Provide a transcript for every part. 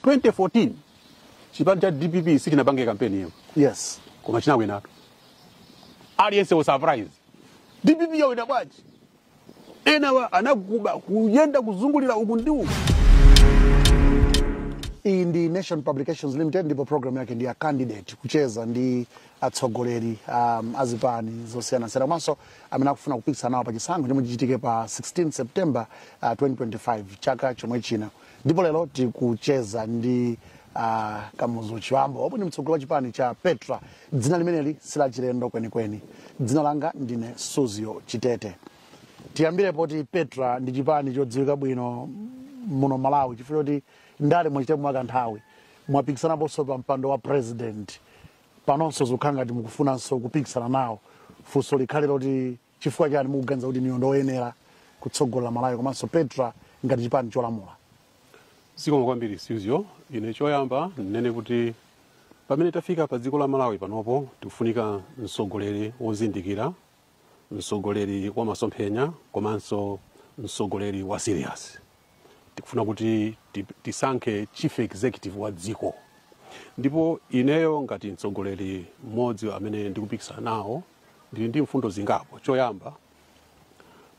2014 chipani cha dpp sichinapange kampeni iyo yes koma chinawinatu aliyense was surprised dpp yawina bwanji enawa anakuba kuyenda kuzungulira uku ndi uku iyi ndi nation publications limited ndipo program yake ndi ya candidate kucheza ndi atsogoleri um, azipani zosiyanasiyana komanso amene akufuna kupikisana nawo pa chisankho chomwe chichitike pa 16 september uh, 2025 chaka chomwe chino ndipo lero tikucheza ndi uh, kamuzu chiwambo omwe ndi mtsogoleri wa chipani cha petra dzina limeneli silachilendo kwenikweni dzina langa ndine suzgo chitete tiyambire poti petra ndi chipani chodziwika bwino muno malawi chifukwa choti ndale mwachita kwa kanthawi mwapikisanaponso pa mpando wa president panonso zokhala ngati mukufunanso kupikisana nawo funso likhale loti Chifukwa chani mukuganiza kuti inuyo ndioyenera kutsogolera Malawi komanso Petra ngati chipani cholamula? Zikomo kwambiri Suzgo. Ine choyamba ndinene kuti pamene tafika pa dziko la Malawi panopo tikufunika mtsogoleri wozindikira, mtsogoleri wa masomphenya komanso mtsogoleri wa serious. tikufuna kuti ti- tisankhe chief executive wa dziko ndipo ineyo ngati mtsogoleri mmodzi amene ndikupikisana nawo ndili ndi mfundo zingapo choyamba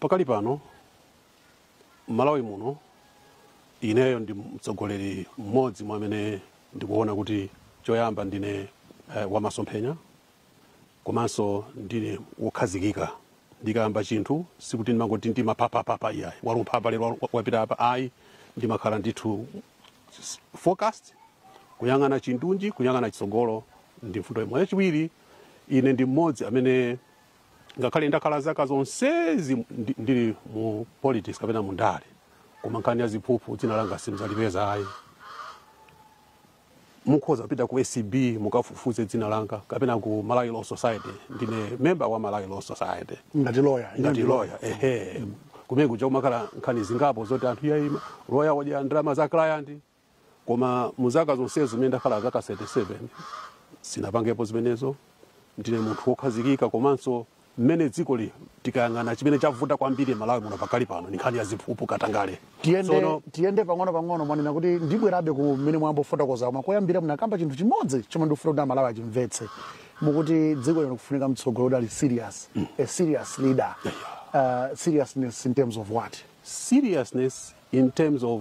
pakali pano mmalawi muno ineyo ndi mtsogoleri mmodzi mwa amene ndikuona kuti choyamba ndine eh, wamasomphenya komanso ndine wokhazikika ndikayamba chinthu sikuti ndimangoti ndimapapapapa iyayi walumpha apa lero wa- wapita apa ayi ndimakhala ndithu s- focused kuyang'ana chindunji kuyang'ana chitsogolo ndi mfundo imodzi yachiwiri ine ndi mmodzi amene ngakhale ndakhala zaka zonsezi ndi- ndili mu politics kapena mu ndale koma nkhani ya ziphuphu dzina langa simzalipeza ayi mukhoza kupita ku acb mukafufuze dzina langa kapena ku malawi law society ndine member wa malawi law society ngati loya ngati loya ehe kumene kuja kumakhala nkhani zingapo zoti anthu iyayi loya wadya ndalama za client koma mu zaka zonsezo zimene ndakhala zaka 37 sinapangepo zimenezo ndine munthu wokhazikika komanso mmene dziko lili tikayang'ana chimene chavuta kwambiri malawi muno pakali pano ndi nkhani ya ziphuphu katangale tiyende, Tsono- tiyende pang'ono pang'ono mwanena kuti ndibwerabe ku mmene mwayamba kufotokoza koma koyambira munakamba chinthu chimodzi chomwe ndikufuna kuti amalawi achimvetse mukuti dziko lino likufunika mtsogoleri ali serious a serious leader uh, seriousness in terms of what seriousness in terms of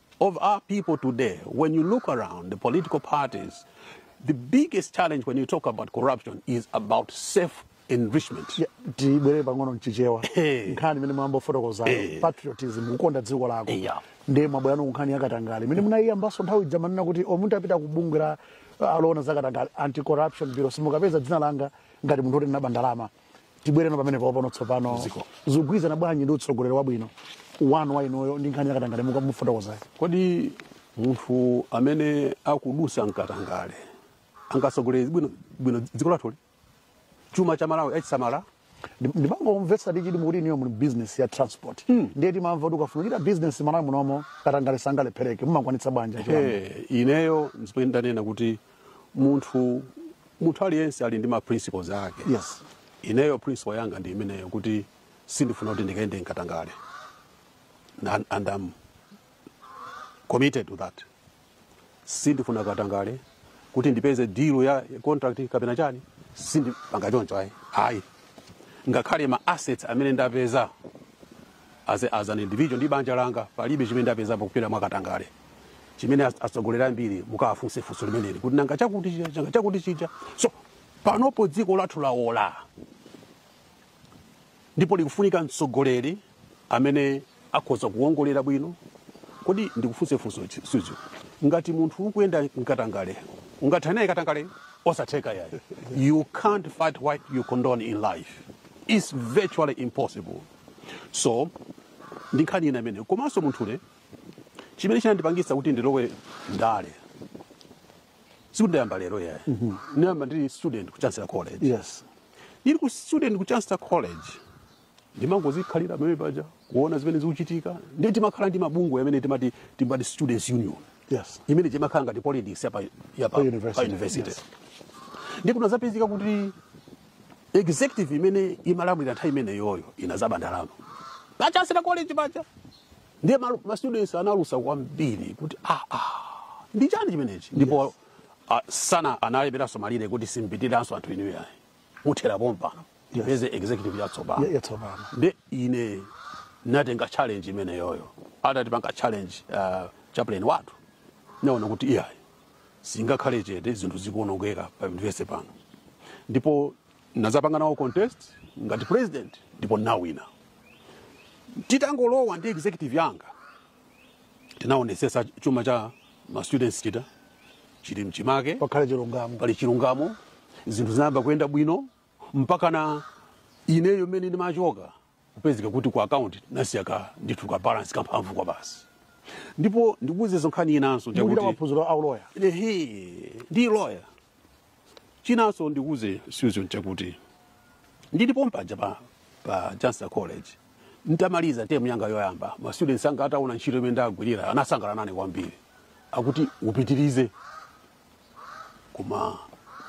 of our people today, when you look around the political parties, the biggest challenge when you talk about corruption is about self enrichment. Yeah, tibwerere pang'ono mchichewa Eh. nkhani imene mwayamba kufotokozayo Eh. patriotism kukonda dziko lako Eh, yeah. ndiye mwabweranso kunkhani yakatangale imene munayiyambanso nthawi ija manena kuti o munthu apita ku bungwe la oona zakatangale anti corruption bureau simukapeza dzina langa ngati munthu oti ndinaba ndalama tibwereno pamene paopano tsopano zikugwirizana bwanji ndi utsogoleri wabwino wanu wa inuyo ndi nkhani yakatangale mukamufotokozayo kodi munthu amene akudusa mkatangale angatsogolere bwino bwino dziko lathuli chuma cha malawi achisamala ndimangomvetsera ndi chidi mukuti inuyo muli business ya transport ndiye timamva kuti ukafuna kuchita business malawi munomo katangale sangalephereke mumakwanitsa bwanji achiwambo? Eh, ineyo nzimene ndanena kuti munthu munthu aliyense ali ndi ma principles ake yes ineyo principle yanga ndi imeneyo kuti sindifuna kuti ndikaende mkatangale and, and I'm committed to that sindifuna katangale kuti ndipeze deal ya contract kapena chani sindipanga choncho ayi ayi ngakhale ma assets amene ndapeza as, as an individual ndi banja langa palibe chimene ndapezapo kupita mwa katangale chimene as- atsogoleri ambiri mukawafunsa funso limeneli kuti nanga chakuti chija nanga chakuti chija so panopo dziko lathu laola ndipo likufunika mtsogoleri amene akhoza kuwongolera bwino kodi ndikufunse funso chi- suzo ngati munthu ukuyenda mkatangale ungathane naye katangale osatheka yayi you can't fight what you condone in life it's virtually impossible so ndi nkhani ina imene komanso munthu ine chimene chinandipangitsa kuti ndilowe ndale sikuti ndayamba lero yayi ndinayamba ndili student ku chancellor college yes ndili ku student ku chancellor college ndimangozikhalira pamene paja kuona zimene zikuchitika ndiye timakhala ndi mabungwe amene timati timati students union yes imene timakhala ngati politics yapa yapa Pa university, pa university yes. ndi kunazapezeka kuti executive imene imalamulira nthawi imeneyoyo inazaba ndalama pa chancellor college paja ndiye ma, ma students analusa kwambiri kuti ah, ah, ndi chani chimenechi ndipo yes. uh, sana analemberanso malire kuti simpitiranso anthu inuyo ayi muthera pompano tipeze executive yatsopano Ya- yatsopano. ndi ine natenga challenge imeneyoyo atati panga challenge uh, chaplain wathu naona kuti iyayi singakhale chete zinthu zikuonongeka pa university pano ndipo nazapanga nawo contest ngati president ndipo nawina titangolowa ndi executive yanga tinaonesesa chuma cha ma students chita chili mchimake pakhale chilungamo pali chilungamo zinthu zinayamba kuyenda bwino mpaka na ineyo mmene ndimachoka kupezeka kuti ku akaunti nasiya ka ndithu ka balance kamphamvu kwa basi ndipo ndikuwuzenso nkhani inanso ndi yakuti maphunziro a uloya ehe ndi loya chinanso ndikuze susan chakuti ndilipo pompaja pa, pa chancellor college ntamaliza temu yanga yoyamba ma students anga ataona ntchito imene ndagwirira anasangala nane kwambiri akuti upitirize koma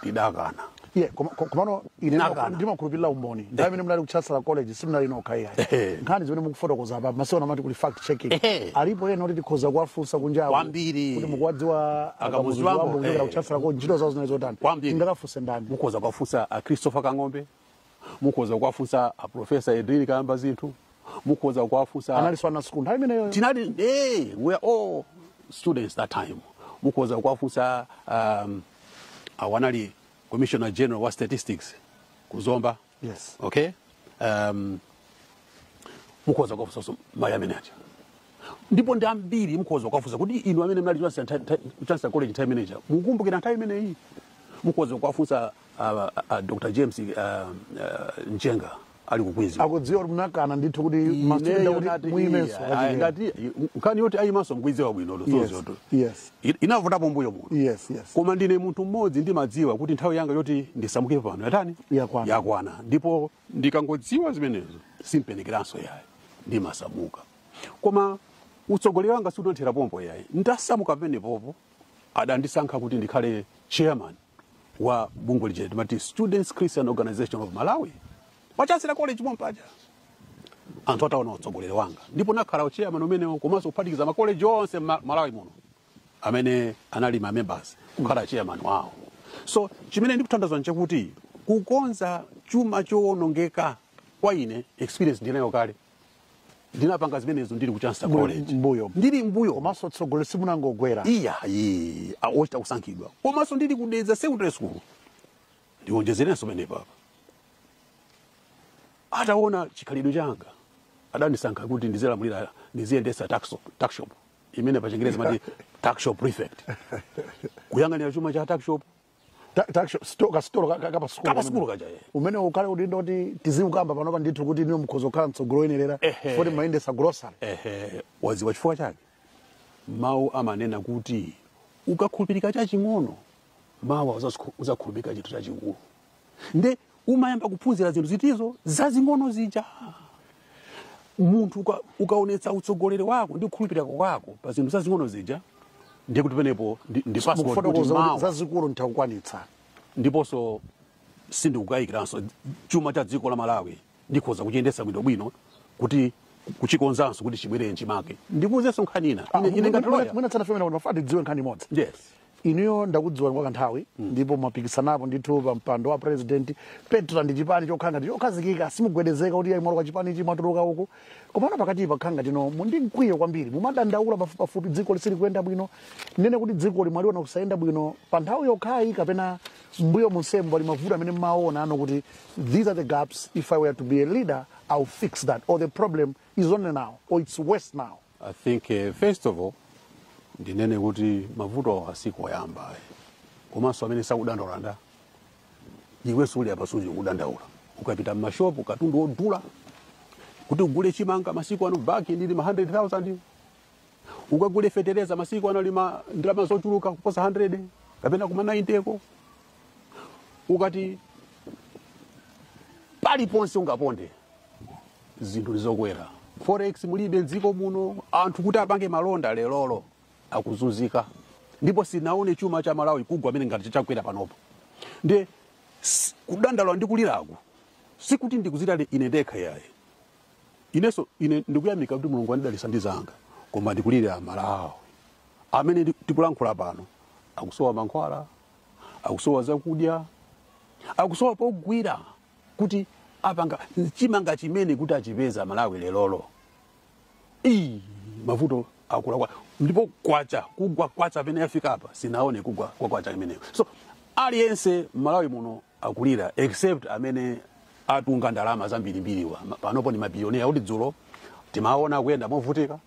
ndidakana Yeah, koma- ko- komano ine Nakana. ndimakhulupirira umboni nthawi imene munali ku chancellor college simunali nokha Ehe. iyayi nkhani zimene mukufotokoza apa masiku ano amati kuli fact checking Ehe. alipo ena kuti tikhoza kuwafunsa kunjawo Kwambiri. kuti mukuwadziwa A kamuzu chibambo, a kamuzu chibambo kuchokera eh. ku chancellor college ntchito zawo zinali zotani Kwambiri. tingakafunse ndani mukhoza kuwafunsa a christopher kang'ombe mukhoza kuwafunsa a professor edrinnie kayambazinthu mukhoza kuwafunsa analinso ana sukulu nthawi imeneyo tinali eh, we are all students that time mukhoza kuwafunsa um, uh, anali commissioner general wa statistics ku zomba Yes. okay um, mukhoza kuwafunsa mayi amene aja ndipo ndi ambiri mukhoza kuwafunsa kuti inu amene mnali chancellor nta- nta- chancellor college nthawi imeneja mukumbukira nthawi imeneyi mukhoza kuwafunsa uh, uh, dr james uh, uh, njenga ali ku queens akudziwa kuti munakana ndithu kuti mastudent Ineyo kuti nati muyimenso iyayi, kachikena. ayi, ngati nkhani yoti ayimanso mkuidziwa bwino Yes, zoonazo yes. inavutapo mbuyo muno yes yes koma ndine munthu mmodzi ndimadziwa kuti nthawi yanga yoti ndisamuke pano yatani Yakwana. yakwana ndipo ndikangodziwa zimenezo simpenekanso yayi ndimasamuka koma utsogoleri wanga siunathere pompo ayi ndasamuka pamenepopo adandisankha kuti ndikhale chairman wa bungwe lija timati students christian organization of malawi pachancellor college pompaja anthu ataona utsogoleri wanga ndipo ndakhala uchairman umenewo komanso kuphatikiza makoleji onse mma- malawi muno amene anali ma members kukhala chairman wawo so chimene ndikutanthauza nchakuti kukonza chuma chowonongeka kwa ine experience ndinayo kale ndinapanga zimenezo ndili ku chancellor college mbuyo ndili mbuyo komanso utsogoleri simunangogwera iyayi ochita kusankhidwa komanso ndili ku dedza secondary school ndionjezerenso pamenepa apa ataona chikhalidwe changa adandisankha kuti ndizilamulira ndiziyendesa tuck- tuckshop imene pachingerezi amati tuckshop prefect kuyang'anira chuma cha tuckshop Ta- ta- sto- kasitolo ka- ka- kapasukulu Kapa sukulu kaja, eh. umenewo ungakhale umboni woti tiziukamba panopa ndithu kuti inuyo mkhoza kukhala mtsogoleri oyenerera Ehe. poti mumayendesa grocery ehe waziwa chifukwa chake mawu amanena kuti ukakhulupirika chaching'ono mawa uzakhulupirika chinthu chachikulu nde umayamba kuphunzira zinthu zitizo, zazing'ono zija munthu uka- ukaonetsa utsogoleri wako ndi kukhulupirika kwako pa zinthu zazing'ono zija ndiye kuti penepo ndi- ndi passport kuti mawa zazikulu utha kukwanitsa ndiponso sindikukayikiranso chuma cha dziko la malawi ndikhoza kuchiyendetsa bwinobwino kuti kuchikonzanso kuti chibwerere nchimake ndikuuzenso nkhani ina Ah, Ine- ine ngati mwina- lawyer. mwina tisanafike m'menemo timafuna tidziwe nkhani imodzi yes inuyo ndakudziwani kwa kanthawi ndipo mwapikisanapo ndithu pa mpando wa president petra ndi chipani chokhala ngati chokhazikika simugwedezeka kuti mwalowa kwa chipani ichi mwatuluka uku komano pakati pa zaka tino muli ndi mkwiyo kwambiri mumadandaula pafupipafupi dziko silikuyenda bwino ndinene kuti dziko mumaliona kusayenda bwino pa nthawi yokhayi kapena mmbuyo monsemu pali mavuto amene mmaona inu kuti these are the gaps if i were to be a leader i'll fix that or the problem is only now or it's worse now I think uh, first of all ndinene kuti mavuto awo sikuyamba ayi komanso amene sakudandaula ndani iwenso uli apa sukudandaula ukapita mmashopu katundu wodula kuti ugule chimanga masiku ano bag ndi ili ma 100000 ukagule fetereza masiku ano ili ma ndalama zochuluka kuposa 100 kapena kuma 90 ko ukati paliponse ungaponde zinthu ndi zokwera forex mulibe mdziko muno anthu kuti apange malonda lerolo akuzunzika ndipo sindinaone chuma cha malawi kugwa mmene ngati chagwera panopo ndiye kudandaula ndi kuliraku sikuti ndikudzilirira ine ndekha iyayi inenso ine ndikuyamikira kuti mulungu anandidalitsa ndi zanga koma ndikulirira amalawi amene ndi- tikulankhula pano akusowa mankhwala akusowa zakudya akusowa pogwira kuti apanga chani chimanga chimene kuti achipeza malawi lerolo Ii, mavuto akula kwa ndipo kwacha kugwa kwacha pamene yafika apa sindinaone kugwa kwa kwacha imeneyo so aliyense mmalawi muno akulira except amene atunga ndalama zambirimbiriwa Ma- panopo ndi mabilionea kuti dzulo timawaona akuyenda movutika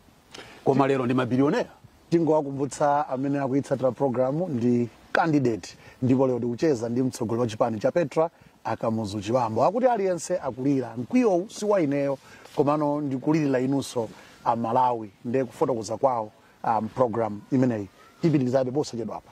koma lero ndi mabilionea tingowakumbutsa amene akuitsatira programu ndi candidate ndipo lero tikucheza ndi mtsogoleri wa chipani cha petra akamuzu chibambo akuti aliyense akulira mkwiyowu si wa ineyo komano ndikulirira inunso amalawi ndi kufotokoza kwawo um, programu imeneyi tipitirizabe posachedwapa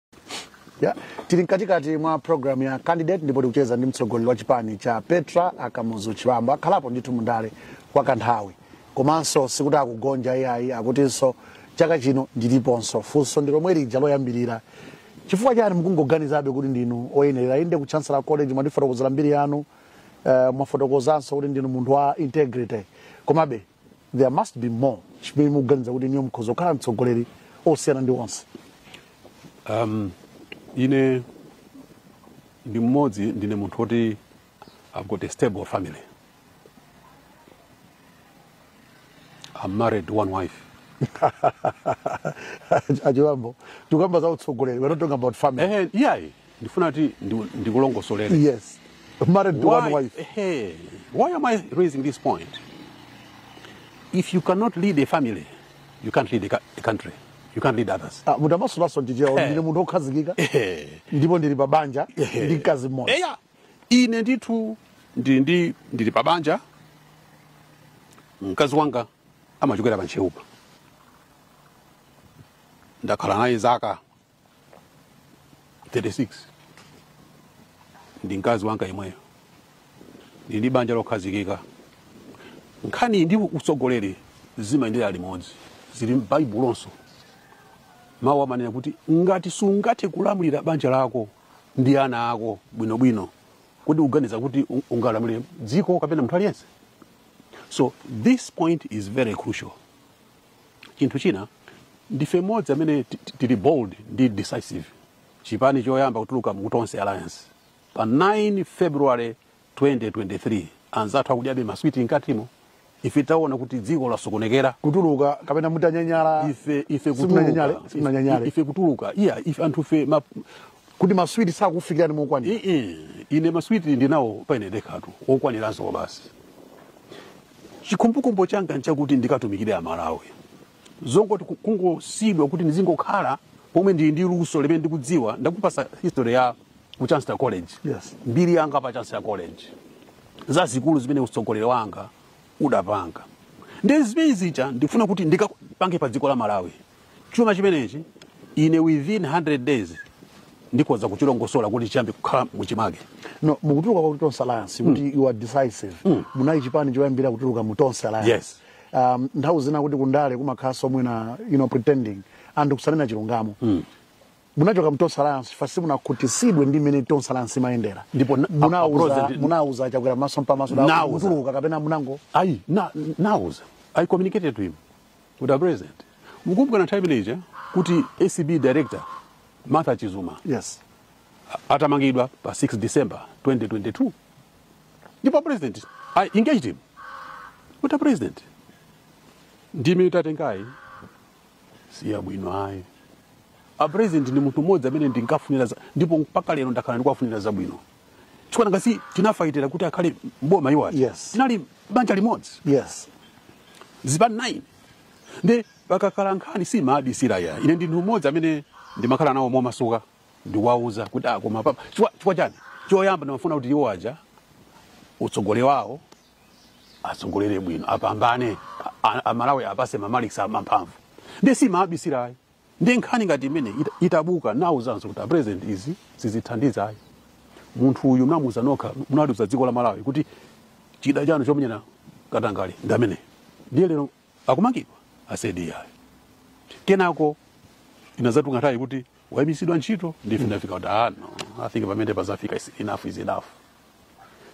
ya tili mkatikati mwa programu ya candidate ndipo tikucheza ndi mtsogoleri wa chipani cha petra akamuzu chibambo akhalapo ndithu mundale kwa kanthawi komanso sikuti akugonja iyayi akutinso chaka chino aliponso funso ndi lomwe lija loyambirira chifukwa chani mukungoganizabe kuti ndinu oyenerera inde ku chancellor college mwatifotokozera mbiri yanu uh, mwafotokozanso kuti ndinu munthu wa integrity komabe there must be more chimene mukuganiza kuti inuyo mukhoza kukhala mtsogoleri osiyana ndi onse um, ine ndi mmodzi ndine munthu woti i've got a stable family i'm married to one wife achibambo tikukamba za utsogoleri we're not talking about family ehe iyayi ndifuna kuti ndi- ndikulongosolere Yes. Married to one why, wife. hey, why am I raising this point? If you cannot lead a family, you can't lead a, ca- a country. You can't lead others. Ah, munthu amasolanso ndicheuka Eh. ndine munthu wokhazikika Eh. ndipo ndili pa banja Eh. ndi mkazi mmodzi Eya, ine ndithu ndili ndi ndili pa banja mkazi wanga amachokera pa Ntcheupa ndakhala naye zaka 36 ndi mkazi wanga yemweyo ndili ndi banja lokhazikika nkhani ndi utsogoleri zimayendera limodzi zili m'baibulonso mawu amanena kuti ngati sungathe kulamulira banja lako ndi ana ako bwinobwino kodi uganiza kuti un- ungalamulire dziko kapena munthu aliyense so this point is very crucial chinthu china ndife mmodzi amene ti- ti- tili bold ndi decisive chipani choyamba kutuluka mu tonse alliance pa 9 february 2023 anzathu akudyabe maswiti mkatimo ife titaona kuti dziko lasokonekera kutuluka kapena munanyanyala ife ife Simunanyanyale, kutuluka simunanyanyale. ife kutuluka iya ife anthu fe ma, kuti maswiti sakufikirani mokwanira ii ine maswiti ndinawo paine ndekhatu okwaniranso kwabasi chikhumbokhumbo changa nchakuti ndikatumikire amalawi zongoti ku- kungosiyidwa kuti ndizingokhala pomwe ndili ndi luso limene ndikudziwa ndakupasa history ya ku chancellor college Yes. mbiri yanga pa chancellor college zazikulu zimene utsogoleri wanga udapanga nde zimene zija ndifuna kuti ndikapange pa dziko la malawi Chuma chimenechi ine within 100 days ndikhoza kuchilongosola kuti chiyambe kukhala muchimake no mukutuluka mwa tonse alliance kuti you are decisive munali chipani choyambirira kutuluka mu tonse alliance Yes. um, nthawi zina kutu kundale kumakhalanso mwina you know, pretending anthu kusanena chilungamo munachoka mu tonse alliance chifukwa simunakhutisidwe ndi mmene tonse alliance imayendera Ndipo na- munauza approach ndi- munauza chakwera maso mpamaso Ndinawauza. mutuluka kapena munango ayi na, ndinawauza i communicated to him kuti apresident mukukumbuka nthawi imene ija kuti acb director martha chizuma yes atamangidwa pa 6 december 2022 ndipo a president i engaged him kuti a president ndime mwatengayi siyabwino ayi a president ndi munthu mmodzi amene ndinkawafunira za- ndipo mpaka lero ndakhala ndikuwafunira zabwino chifukwa nanga si tinafaitira kuti akhale mboma iwo aja Yes. tinali banja limodzi yes zipani 9 ndi pakakhala nkhani sindimaabisira ayi ine ndi munthu mmodzi amene ndimakhala nawo momasuka ndiwauza kuti ah, koma papa chifukwa chifukwa chani choyamba ndimafuna kuti iwo aja utsogoleri wawo atsogolere bwino apambane a- a- amalawi awapatse mamalikisi amamphamvu nde sindimaabisira ayi ndiye nkhani ngati imeneyi ita- itabuka nauzanso kuti apresident izi sizithandiza ayi munthu uyu munamuuza nokha munaliuza dziko la malawi kuti chida chanu chomenyera katangale ndi ameneyu ndiye lero akumangidwa as AG ayi kenako inazatuluka nthawi kuti waimitsidwa ntchito ndiye ndafika kuti ah no i think pamene pazafika is- enough is enough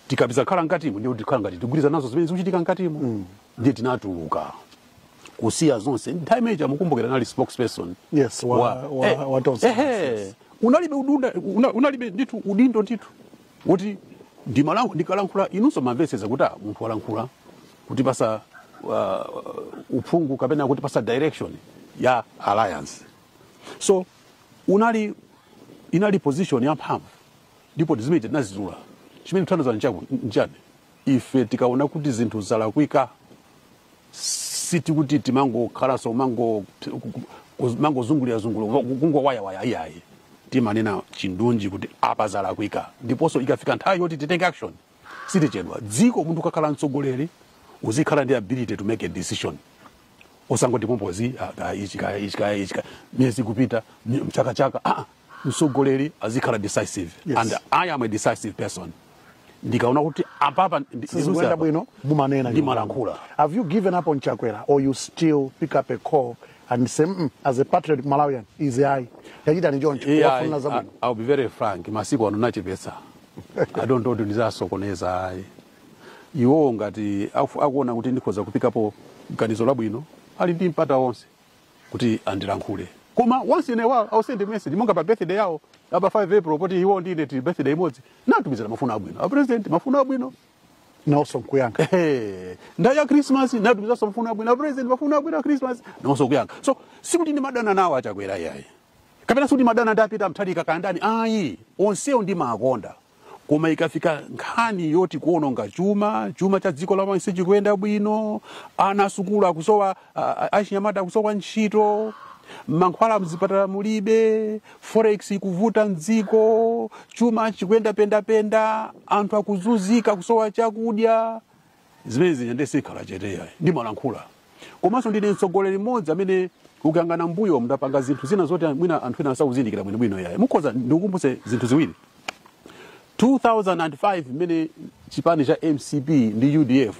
tikapitiriza kukhala mkatimo ndiye kuti tikhala ngati tikugwirizana nazo zimene zikuchitika mkatimo mm. ndiye tinatuluka kusiya zonse nthawi imene ija mukumbukira nali spokesperson yes wa, wa, wa, eh, wa Tonse. eh, eh, unalibe udunda una, unalibe ndithu udindo ndithu kuti ndimalankhula ndikalankhula inunso mumamvetsetsa kuti ah, munthu walankhula kutipatsa uh, uphungu kapena kutipatsa direction ya alliance so unali inali position ya mphamvu Ndipo ndi zimene tinadzudzula, chimene chithandiza nchaku- nchani? Ife tikaona kuti zinthu zalakwika, sikuti timangokhalanso mango- mangozungulira zungulira kungowayawayaya iyayi timanena chindunji kuti apa zalakwika ndiponso ikafika nthawi yoti titenge action sitichedwa dziko munthu ukakhala mtsogoleri uzikhala ndi ability to make a decision osangoti pompozi ah, ah, ichi kaya ichi kaya ichi kaya miyezi kupita mi- mchakachaka ah, mtsogoleri azikhala decisive Yes. and i am a decisive person ndikaona kuti apapa ndi- ndiduse sizikuyenda apa. bwino mumanena Ndimalankhula. have you given up on chakwera or you still pick up a call and say mm, as a patriotic malawian izi ayi ayi chitani choncho Yeah, I, kuwafunira I, zabwino I'll be very frank masiku ano nachepetsa i don't want kuti ndizasokoneza ayi iwowo ngati afu- akuona kuti ndikhoza kuikapo ganizo labwino ali ndi mpata wonse kuti andilankhule koma once in a while I'll send a message monga pa birthday yawo apa 5 April poti iwo ndi ine tili birthday imodzi natumizira mafuno abwino a president mafuno abwino nawonso nkuyankha Ehe. nthawi ya christmas natumizanso mafuno abwino a president mafuno abwino a christmas nawonso kuyankha so sikuti ndimadana nawo achakwera iyayi kapena sikuti ndimadana ndi a Peter Mutharika kaya ndani ayi onsewo ndimawakonda koma ikafika nkhani yoti kuononga chuma chuma cha dziko la Malawi sichikuyenda bwino ana asukulu akusowa a- a- achinyamata akusowa ntchito mankhwala mzipatala mulibe forex ikuvuta mdziko chuma chikuyenda pendapenda anthu akuzunzika kusowa chakudya zimene zija ndiye sindikhala chete yayi ndimalankhula komanso ndine mtsogoleri mmodzi amene ukayang'ana mbuyo mndapanga zinthu zina zoti mwina anthu ena sakuzindikira bwinobwino yayi mukhoza ndikukumbutse zinthu ziwiri 2005 mmene chipani cha mcp ndi udf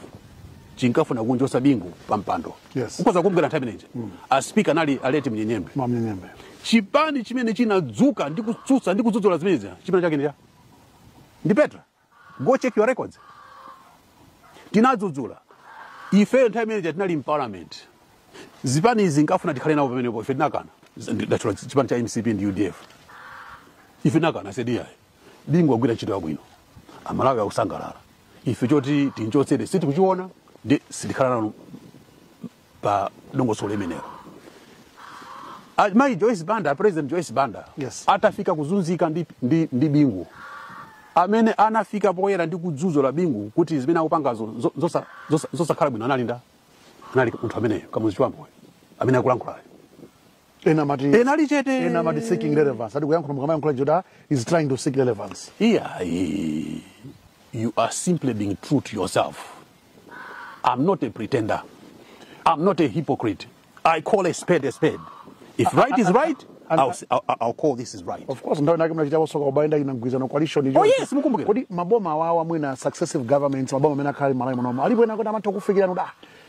chinkafuna kumchotsa bingu pa mpando Yes. ukhoza kumbukira nthawi imeneja aspika anali a late Munyenyembe a Munyenyembe chipani chimene chinadzuka ndi kutsutsa ndi kudzudzula zimenezi chipani chake ndi chiti ya ndi petra go check your records tinadzudzula ifeyo nthawi imene tinali mparliament zipani izi zinkafuna tikhale nawo pamenepo ife tinakana ndachula chipani cha mcp ndi udf ife tinakana said iyayi bingu wagwira ntchito yabwino amalawi akusangalala ife choti timchotsere sitikuchiona nde sitikhala nawo pa dongosolo limenelo amayi joyce banda president joyce banda Yes. atafika kuzunzika ndi, ndi, ndi bingu amene anafika poyera ndi kudzudzula bingu kuti zimene akupangazo zo- zosa- zosa- zosakhala bwino analinda anali munthu ameneyo kamuzu chibamboyo amene akulankhulayo ena amati Ena ali chete. ena amati seeking relevance ati kuyankhula mukamayankhula joda is trying to seek relevance iyayi you are simply being true to yourself I'm not a pretender. I'm not a hypocrite. I call a spade a spade. If right is right, and- I'll, say- I'll, I'll call this is right. of course nthawi inayake munachitaponso kuba mu mgwirizano coalition ija. Oh, yes, mukumbukira. kodi maboma awawa mwina successive governments maboma amene akhala ali malawi munomo alipo ena oti amatha kukufikirani kuti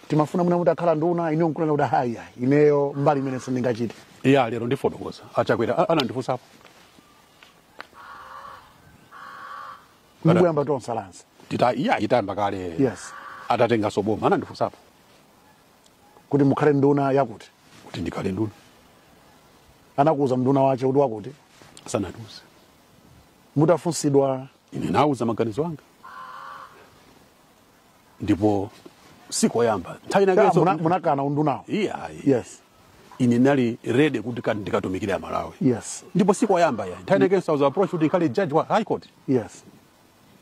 timafuna mwina mutakhala nduna inuyo nkunena kuti iyayi ineyo mbali imeneyo sindingachite ya lero ndifotokoza achakwera a- anandifunsapo ndikuyamba tonse alliance ita iya itayamba kale yes atatenganso boma anandifunsapo kuti mukhale nduna yakuti kuti ndikhale nduna anakuuza unduna wake uti wakuti asanatiuze mutafunsidwa ine ndinawauza maganizo anga ndipo sikoyamba nthawi Ya, inakenso muna- munakana undunawo iyayi yes ine ndinali ready kuti ka- ndikatumikire amalawi yes ndipo sikoyamba ya nthawi inakenso I was approached kuti ndikhale judge wa high court yes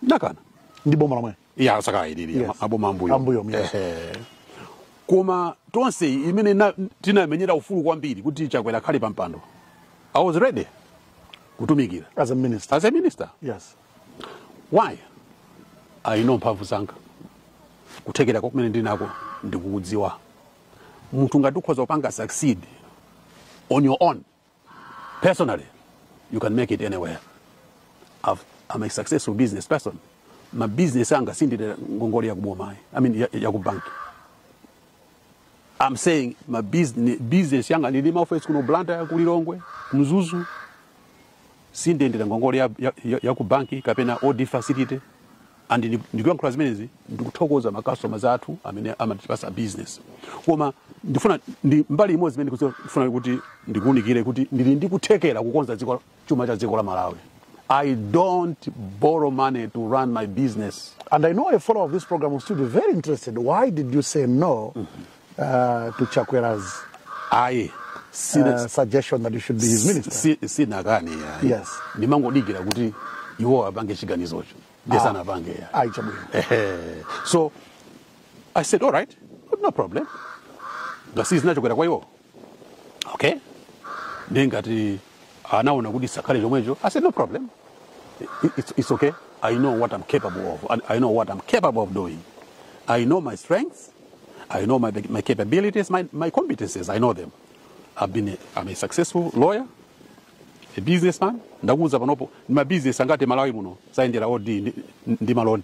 ndinakana ndi boma lomwe iya asakayilili Yes. aboma ambuyo Ambuyo, yes. Ehe. koma tonse imene na- tinamenyera ufulu kwambiri kuti chakwera akhale pampando i was ready kutumikira as a minister as a minister yes why i know mphamvu zanga kuthekera kumene ndinako ndikukudziwa munthu ngati ukhoza kupanga succeed on your own personally you can make it anywhere I've, i'm a successful business person ma business anga sindili ngongole yakuboma i mean ya- yakubanki i'm saying ma business, business yanga ndili maofesi kuno blantyre kulilongwe mzuzu sindiyendera ngongole ya, ya, ya, ya ku banki kapena OD facility and ndi- ndikuyankhula zimenezi ndikuthokoza ma customers athu amene amatipatsa business koma ndifuna ndi mbali imodzi imene ndikufuna kuti ndikuunikire kuti ndili ndi kuthekera kukonza dziko chuma cha dziko la malawi i don't borrow money to run my business And I know a follower of this program will still be very interested. Why did you say no uh, to Chakwera's ayi sina- uh, suggestion that you should be his minister? si- sinakani ayi. Yes. ndimangodikira kuti iwo apange chiganizocho ndiye Ah. sanapange ayi. Ayi, chabwino. Ehe. so i said all right no problem ngati zinachokera kwa iwo okay ndiye ngati anaona kuti sakhale chomwecho i said no problem I- it's, it's okay i know what i'm capable of and i know what i'm capable of doing i know my strengths I know my, my capabilities, my, my competencies, I know them. I've been a, I'm a successful lawyer, a businessman. Ndakuuza panopo ndi mabizinesi angati Malawi muno sayendera OD ndi, ndi maloni.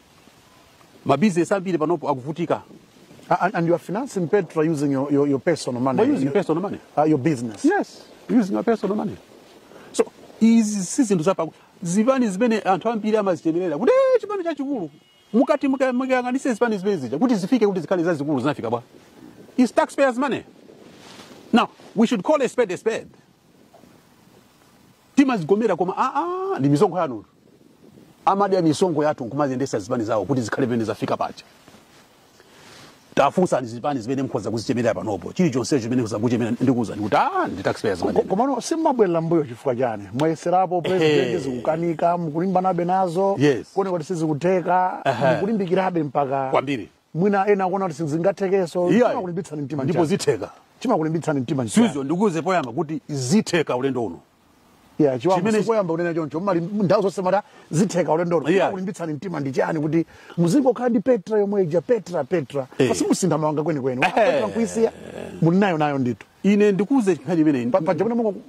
Mabizinesi ambiri panopo akuvutika. And, and you are financing Petra using your, your, your personal money. We're using your, personal money. Uh, your business. Yes, using your personal money. So izi si zinthu zapa zipani zimene anthu ambiri amazichemerera kuti "Eh, chipani chachikulu mukati muka- mukayang'anise zipani zimene zija kuti zifike kuti zikhale zazikulu zinafika bwa it's taxpayers money now we should call a spade a spade timazigomera koma aa ndi misonkho yathutu amadya misonkho yathu nkumaziyendesa zipani zawo kuti zikhale pamene zafika paja tafunsani zipani zimene mukhoza kuzichemerera panopo chilichonsecho chimene mukhoza kuchemera ndikuwuzani kuti ah ndi taxpayers money. Ko- komano simubwerera mbuyo chifukwa chani mwayeserapo president Ehe. zikukanika mukulimbanabe nazo Yes. kuoneka kuti sizikutheka Ehe. mukulimbikirabe mpaka kwambiri mwina ena akuona kuti sizingathekenso Iyayi. chimakulimbitsani mtima ndipo nchani? zitheka chimakulimbitsani mtima nchani? Suzgo ndikuwuze poyamba kuti zitheka ulendo uno Yeah, Chibambo Chimene- sikoyamba kunena choncho muli nthawi zonse mumati zitheka ulendo Yeah. yeah. kulimbitsani mtima ndi chani kuti muzingokhala ndi petra yomwe ija petra petra Eh. pati musinthe mawanga kwenikweni Eh. petra nkuisiya muli nayo nayo ndithu ine ndikuuze nkhani imene Pa- paja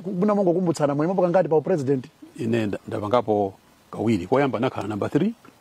munamongokumbutsana mwaimapo kangati pa upresident ine nda- ndapangapo kawiri koyamba nakhala namba 3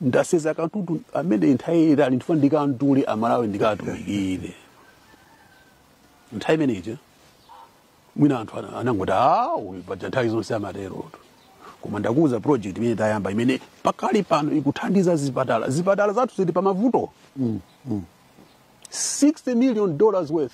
ndasenza katundu amene nthawi yaitali ndifuna ndikamtule amalawi ndikatumikire nthawi imeneyi mwina anthu ana- anangoti "Ah, uyu paja nthawi zonse amaterotu koma ndakuwuza project imene tayamba imene pakali pano ikuthandiza zipatala zipatala zathu zili pa mavuto 60 million dollars worth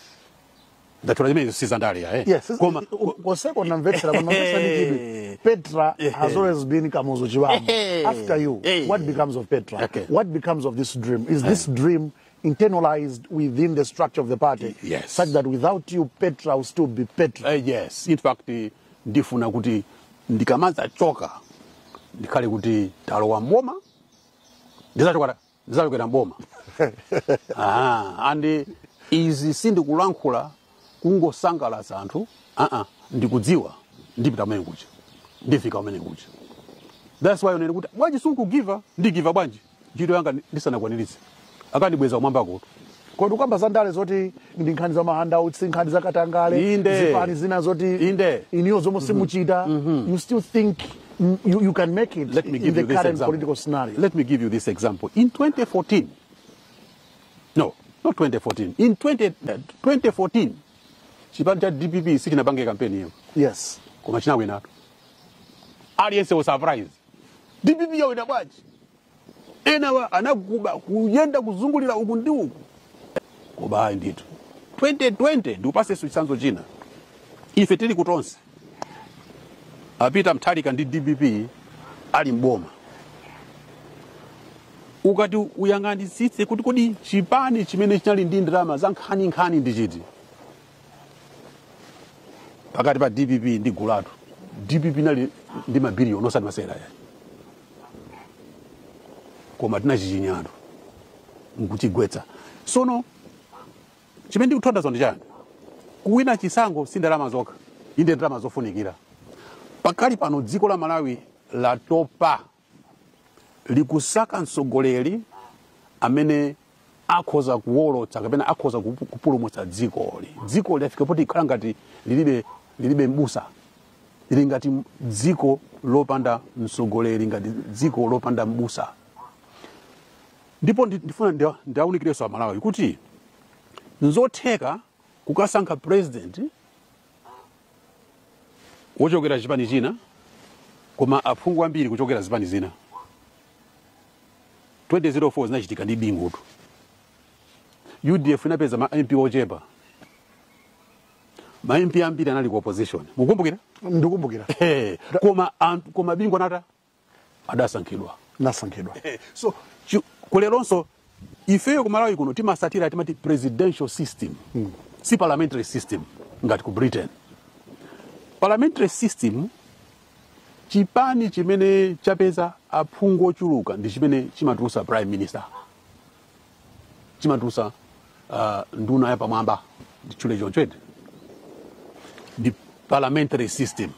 ndatola imenezo si zandale ya eh Yes, koma kosekondi namvetsera koma mvetsera ndi chidwi. Petra has always been Kamuzu Chibambo. Eh. After you, Eh. what becomes of Petra? Okay. What becomes of this dream? Is this dream internalized within the structure of the party? Yes. Such that without you, Petra will still be Petra. Eh, yes in fact eh, ndifuna kuti ndikamadzachoka ndikhale kuti talowa mboma ndizachoka zachokera mboma ah, and izi sindikulankhula kungosangalatsa anthu aa ndikudziwa ndipita kumene kuja ndifika kumene kuja thats why ukunena kuti bwanji simukugiva ndigiva bwanji ntchito yanga ndi- ndisanakwaniritse akandibweza kumwambakotu kodi kukamba za ndale zoti ndi nkhani za mahandouts nkhani za katangale Inde. zipani zina zoti Inde. inuyo zomwe simuchita you still think mm, you, you can make it Let me in give the you this current example. political scenario Let me give you this example. In 2014, no, not 2014, in 20, uh, 2014, chipani cha DPP sichinapange kampeni iyo yes koma chinawinatu aliyense was surprised dpp yawina bwanji enawa anaguba kuyenda kuzungulira uku ndi uku koma ayi ndithu 2020 ndikupatsenso chitsanzo china ife tili ku tonse a peter mutharika ndi dpp ali mboma ukati uyang'anitsitse kuti kodi chipani chimene chinali ndi ndalama za nkhaninkhani ndi chiti pakati pa dpp ndi gulu lathu dpp inali ndi mabiliyoni osati masewera ayi koma tinachichinyatu nkuchigwetsa sono chimene ndikuthandauza ndi chani kuwina chisankho si ndalama zokha inde ndalama zofunikira pakali pano dziko la malawi latopa likusaka mtsogoleri amene akhoza kuwolotsa kapena akhoza kupu- kupulumutsa dzikoli dzikoli lafika poti ikhala ngati lilibe lilibe mbusa lili ngati dziko lopanda mtsogoleri ngati dziko lopanda mbusa ndipo ndi- ndifuna ndia- ndiawunikirenso amalawi kuti nzotheka kukasankha president wochokera chipani china koma aphungu ambiri kuchokera zipani zina 2004 zinachitika ndi bingutu udf inapeza ma mp ochepa ma mp ambiri anali ku opposition mukumbukira ndikumbukira Eh, koma anthu koma bingu anata adasankhidwa anasankhidwa Eh, so chi- kuleronso ifeyo kumalawi kuno timatsatira timati presidential system si parliamentary system ngati ku britain parliamentary system chipani chimene chapeza aphungu ochuluka ndi chimene chimatulutsa prime minister chimatulutsa uh, nduna yapamwamba nditchule choncho eti ndi parliamentary system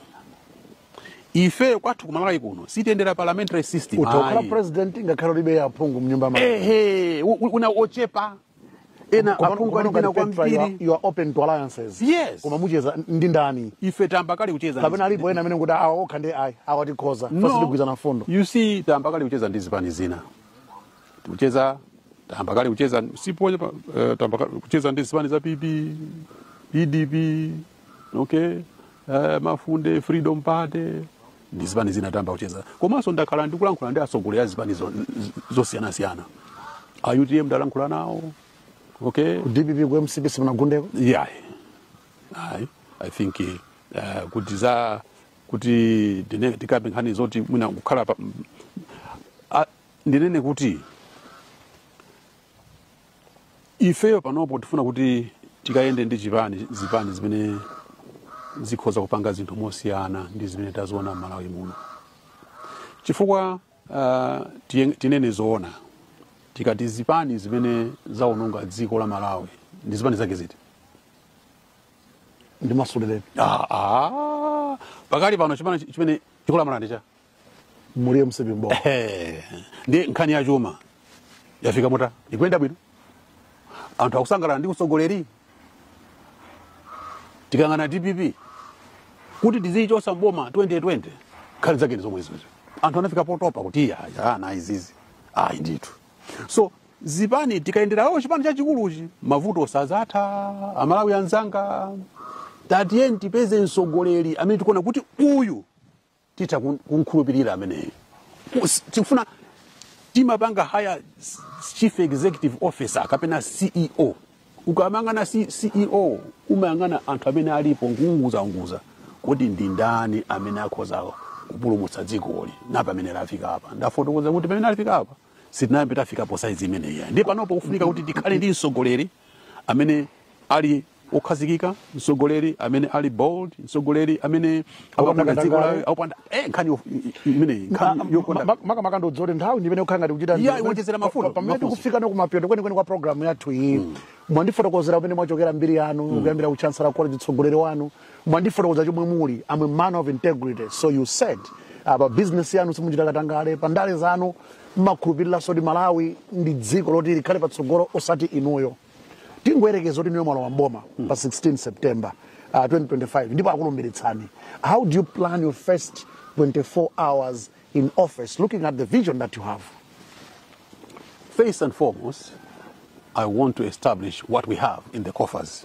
ife kwathu kumalawi kuno sitiyendera parliamentary system utokhala ayi. president ngakhale ulibe aphungu mnyumba mako ehe u- u- una ochepa ena Koma- aphungu koma alikana ngati Petra, you are- kwambiri you are open to alliances Yes. koma mucheza ndi ndani ife tayamba kale kucheza kapena alipo ena amene kuti awa okha ndi ayi awa tikhoza awa sitigwirizana mfundo you see tayamba kale kucheza ndi zipani zina tikucheza tayamba kale kucheza siponya pa- eh, tayamba kale kucheza ndi zipani za pp pdp okay eh, mafunde freedom party ndi zipani zinayamba kucheza komanso ndakhala ndikulankhula ndi atsogoleri a zipani zo- z- zosiyanasiyana a utm ndalankhula nawo okay ku dpp ku mcp simunagundeko yeah ayi i think uh, kuti za kuti tine- tikambe nkhani zoti mwina kukhala pa a- ndinene kuti ifeyo panopo tifuna kuti tikayende ndi chipani zipani zimene zikhoza kupanga zinthu mosiyana ndi zimene taziona m'malawi muno chifukwa uh, tinene zoona tikati zipani zimene zaononga dziko la malawi ndi zipani zake ziti ndi masulirani ah, ah. pakali pano chipani chimene chikulamula ndi cha muli mcp mboma Ehe. ndi nkhani ya chuma yafika motani ikuyenda bwino anthu akusangalala ndi utsogoleri tikayang'ana dpp kuti tiziyichosa mboma 2020 nkhani zake ndi zomwezo anthu anafika potopa kuti iya iya, ayi izizi ayi ndithu so zipani tikayendera ayi chipani chachikuluchi mavuto sazatha amalawi anzanga tatiyeni tipeze mtsogoleri amene tikuona kuti uyu titha kun- kumkhulupirira ameneyo Kus- tikufuna timapanga hire chief executive officer kapena ceo ukamayang'ana C- ceo umayang'ana anthu amene alipo nkuunguzaunguza kodi ndi ndani amene akhoza kupulumutsa dzikoli napa pamene lafika apa ndafotokoza kuti pamene lafika apa sitinayambe tafika po saizi imeneyi ndi panopo kufunika kuti tikhale ndi mtsogoleri amene ali okhazikika mtsogoleri amene ali bold mtsogoleri amene Akupanda akukonda dziko katangale. lawo akupanda eh nkhani yo- i- i- imeneyi nkhani yokonda makamaka ndizoti nthawi ndimene kukhala ngati kuchita Yeah, iwonjezera mfundo, pamene mafunso. tikufika nako kumapeto kwenikweni kwa programu yathu iyi mwandifotokozera pamene mwachokera mbiri yanu kuyambira ku chancellor college utsogoleri wanu mwandifotokoza chomwe muli am a man of integrity so you said ah, pa business yanu simuchita katangale pa ndale zanu mmakhulupiriranso kuti malawi ndi dziko loti likhale patsogolo osati inuyo tingoyerekeza kuti niyo mwalowa mboma pa 16 september uh, 2025 ndipo akulumbilitsani how do you plan your first 24 hours in office looking at the vision that you have First and foremost, I want to establish what we have in the coffers.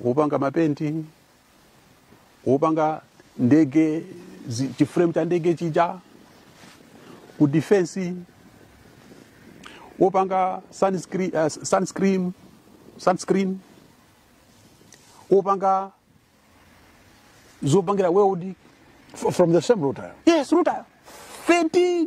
wopanga mapenti wopanga ndege zi- chiframe cha ndege chija ku defense wopanga sunscreen, uh, sunscreen, sunscreen wopanga zopangira welding F- From the same rutile. yes rutile 13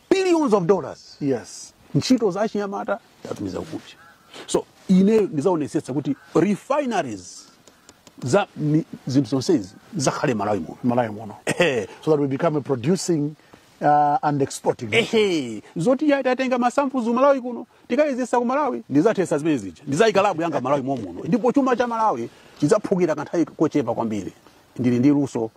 billions of dollars yes ntchito za achinyamata tatumiza kunja so ineyo ndizaonesetsa kuti refineries za mi- zinthu zonsezi zizakhale malawi muno malawi muno Ehe. so that we become a producing uh, and exporting ehe zoti ya tatenga ma samples malawi kuno tikayezesa ku malawi ndizathesa zimene zija ndizayika labu yanga malawi momuno ndipo chuma cha malawi chidzaphukira kanthawi kochepa kwambiri ndili ndi luso